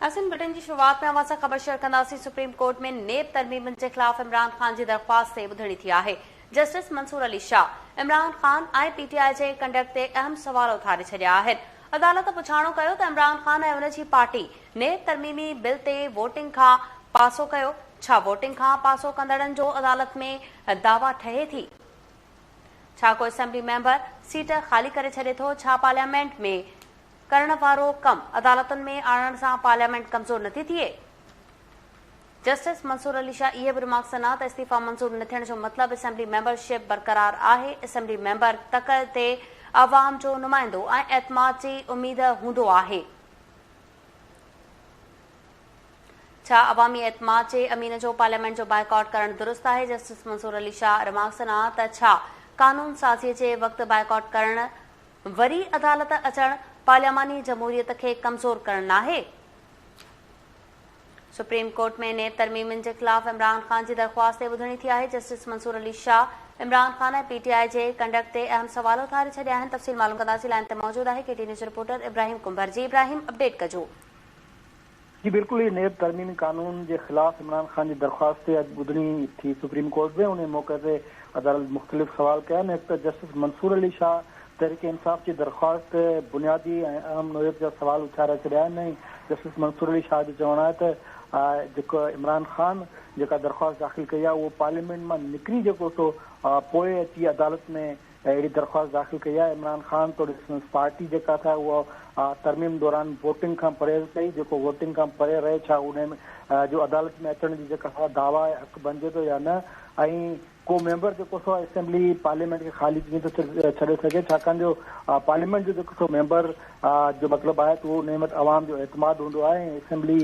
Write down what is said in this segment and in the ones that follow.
اسين بلٽن جي شروعات ۾ اوهان سان خبر شيئر ڪنداسين سپريم ڪورٽ ۾ نيب ترميمن جي خلاف عمران خان جي درخواست تي ٻڌڻي ٿي آهي جسٽس منصور علي شاهه عمران خان ۽ پي ٽي آء جي ڪنڊڪٽ تي اهم سوال اٿاري ڇڏيا آهن عدالت پڇاڻو ڪيو ته عمران خان ۽ ان جي پارٽي نيب ترميمي بل تي ووٽنگ کان پاسو ڪيو ڇا ووٽنگ کان پاسو ڪندڙن جو عدالت ۾ دعويٰ ٺهي ٿي ڇا ڪو اسيمبلي ميمبر سيٽ خالي ڪري ڇڏي ٿو ڇا پارليامينٽ ۾ ڪرڻ وارو ڪم عدالتن ۾ آڻڻ سان پارليامينٽ ڪمزور نٿي ٿئي؟ جسٽس منصور علي شاهه اهي به رمارڪس ڏنا ته استعيفيٰ منظور نه ٿيڻ جو مطلب اسيمبلي ميمبر شپ برقرار آهي، اسيمبلي ميمبر تڪ تي عوام جو نمائندو ۽ اعتماد جي اميد هوندو آهي، ڇا عوامي اعتماد جي امين جو پارليامينٽ جو بائيڪاٽ ڪرڻ درست آهي؟ جسٽس منصور علي شاهه رمارڪس ڏنا ته ڇا قانون سازي جي وقت بائيڪاٽ ڪرڻ وري عدالت اچڻ پارلياماني جمهوريت کي ڪمزور ڪرڻ ناهي؟ سپريم ڪورٽ ۾ نيب ترميمن جي خلاف عمران خان جي درخواست تي ٻڌڻي ٿي آهي، جسٽس منصور علي شاهه عمران خان ۽ پي ٽي آء جي ڪنڊڪٽ تي اهم سوال اٿاري ڇڏيا آهن، تفصيل معلوم ڪنداسين، لائين تي موجود آهي ڪي ٽي نيوز رپورٽر ابراهيم ڪنڀر، جي ابراهيم اپڊيٽ ڪجو. جي بلڪل اهي نيب ترميمي قانون جي خلاف عمران خان جي درخواست تي اڄ ٻڌڻي ٿي سپريم ڪورٽ ۾ انهي موقعي تي عدالت مختلف سوال ڪيا آهن هڪ ته جسٽس منصور علي شاهه تحريڪ انصاف جي درخواست تي بنيادي ۽ اهم نوعيت جا سوال اٿاري ڇڏيا آهن ۽ جسٽس منصور علي شاهه جو چوڻ آهي ته جيڪو عمران خان جيڪا درخواست داخل ڪئي آهي اهو پارليامينٽ مان نڪري جيڪو سو پوء اچي عدالت ۾ اهڙي درخواست داخل ڪئي آهي عمران خان توڙي سندس پارٽي جيڪا تھ اها ترميم دوران ووٽنگ کان پرهيز ڪئي جيڪو ووٽنگ کان پري رهي ڇا انهي جو عدالت ۾ اچڻ جي جيڪا سا دعويٰ آهي حق بنجي ٿو يا نه ۽ ڪو ميمبر جيڪو سو اسيمبلي پارليامينٽ کي خالي ڪيئن ٿو ڇڏي سگهي ڇاڪاڻ جو پارليامينٽ جو جيڪو سو ميمبر جو مطلب آهي ته اهو انهي وٽ عوام جو اعتماد هوندو آهي ۽ اسيمبلي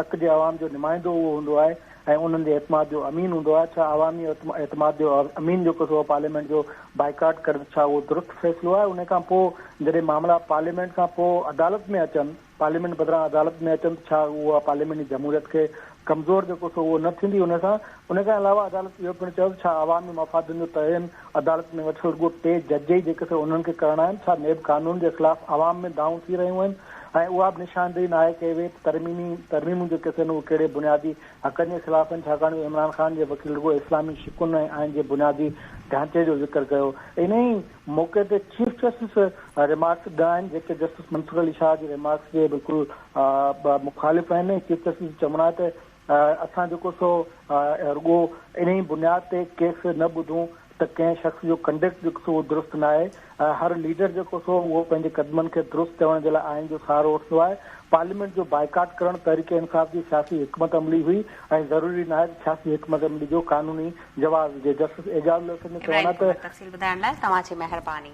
تڪ جي عوام جو نمائندو اهو هوندو آهي ۽ انهن جي اعتماد جو امين هوندو آهي، ڇا عوامي اعتماد جو امين جو قصو هو پارليامينٽ جو بائيڪاٽ ڪرڻ ڇا اهو درست فيصلو آهي انهي کان پوء جڏهن معاملا پارليامينٽ کان پوء عدالت ۾ اچن پارليامينٽ بدران عدالت ۾ اچن ته ڇا اها پارليامينٽ جي جمهوريت کي ڪمزور جو قصو اهو نه ٿيندي انهي سان انهي کان علاوه عدالت اهو پڻ چيو ته ڇا عوامي مفادن جو تعين عدالت ۾ ويٺل رڳو ٽي جج ئي جيڪي سر انهن کي ڪرڻا آهن، ڇا نيب قانون جي خلاف عوام ۾ دانهون ٿي رهيون آهن ۽ اها به نشاندهي ناهي ڪئي وئي ته ترميمي ترميمون جيڪي ٿين اهي ڪهڙي بنيادي حقن جي خلاف آهن ڇاڪاڻ جو عمران خان جي وڪيل رڳو اسلامي شقن ۽ آئين جي بنيادي ڍانچي جو ذڪر ڪيو انهي موقعي تي چيف جسٽس ريمارڪس ڏنا آهن جيڪي جسٽس منصور علي شاهه جي ريمارڪس جي بلڪل مخالف آهن ۽ چيف جسٽس جو چوڻ آهي ته اسان جيڪو سو رڳو انهي بنياد تي ڪيس نه ٻڌون ته ڪنهن شخص جو ڪنڊڪٽ جيڪو سو اهو درست ناهي، هر ليڊر جيڪو سو اهو پنهنجي قدمن کي درست چوڻ جي لاء آئين جو سهارو وٺندو آهي، پارليامينٽ جو بائيڪاٽ ڪرڻ تحريڪ انصاف جي سياسي حڪمت عملي هئي ۽ ضروري ناهي ته سياسي حڪمت عملي جو قانوني جواز هجي، جسٽس اعجاز الحسن جو چوڻ آهي ته. تفصيل ٻڌائڻ لاء توهان جي مهرباني.